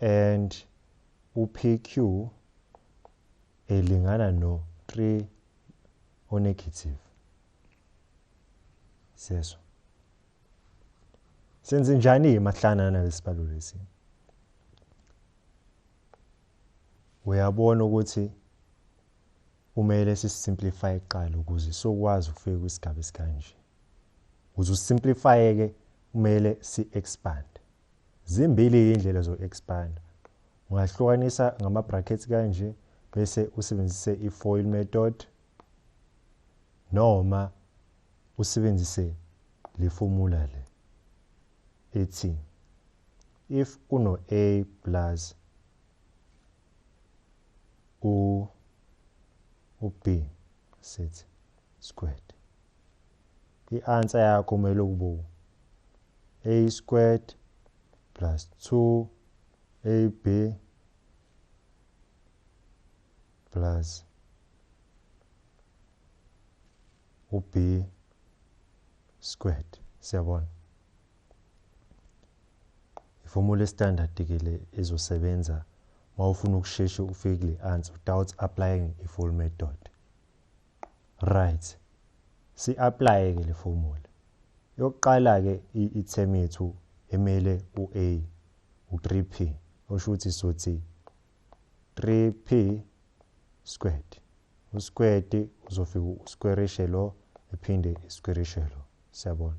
and uPQ elingana no-3 onegative seso senze njani-ke mahlana nalesibalo lesi uyabona ukuthi kumele sisimplify kuqala ukuze sokwazi ukufika kwisigaba esikanje ukuze usimplify-ke kumele si-expand Zimbili indlela zoku-expanda. Ungahlukanisa ngama-brackets kanje bese usebenzise i-foil method noma usebenzise le formula le ethi if uno-a plus u u-b sithi squared i-answer yakho kumele ukube a squared plus 2 ab plus u-b squared siyabona Ifomu le-standard ke le ezosebenza uma ufuna ukusheshe ufike kule answer without applying a full method. Right. Si-apply ke le formula. Yokuqala ke i-term yethu emele u-A u-3p osho ukuthi sothi 3p squared. Usquared uzofika usquarishe lo ephinde isquarishe lo. Siyabona.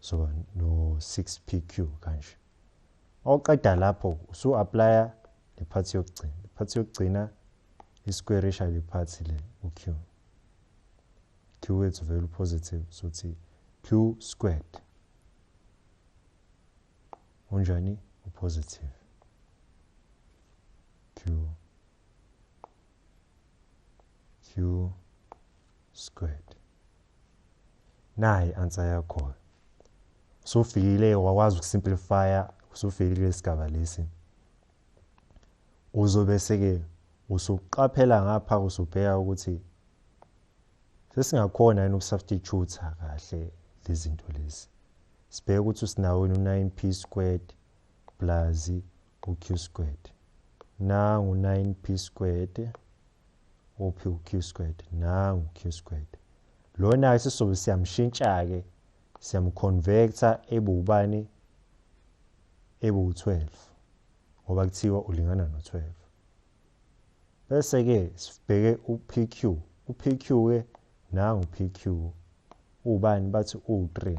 so no 6 PQ kanje oqeda lapho usu applya le part yokugcina le part yokugcina isquarisha le part le uq q wethu vele upositive sothi q squared unjani upositive q q squared nayi answer yakho usufikile wakwazi ukusimplifya usufikile lesigaba lesi uzobe seke usuqaphela ngapha usubheka ukuthi sesingakhona yini ukusubstitute kahle lezinto lezi sibheke ukuthi usinawini u9p squared plus uq squared nangu 9p squared uphi uq squared nangu q squared lona-ke sizobe siyamshintsha-ke siyamconvecta ebe ubani ebe u-12 ngoba kuthiwa ulingana no-12 bese-ke sibheke u-pq u-pq-ke nangu-pq ubani bathi u-3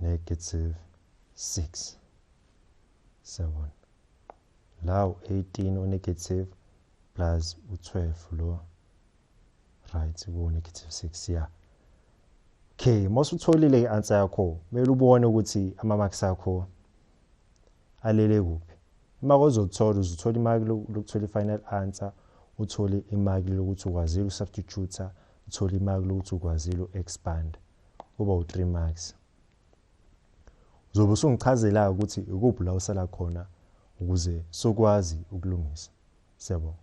negative 6 7 la u-18 unegative plus u-12 lo right kuwu-negative 6 ya yeah. okay uma usutholile i-answer yakho kumele ubone ukuthi ama-marks akho alele kuphi uma kozothola uzothola imaki lokuthola i-final answer uthole imaki lokuthi ukwazile ukusubstituta uthole imaki lokuthi ukwazile u-expand uba u-three marks uzobe usungichazela-ke ukuthi ikuphi la usala khona ukuze sokwazi ukulungisa siyabonga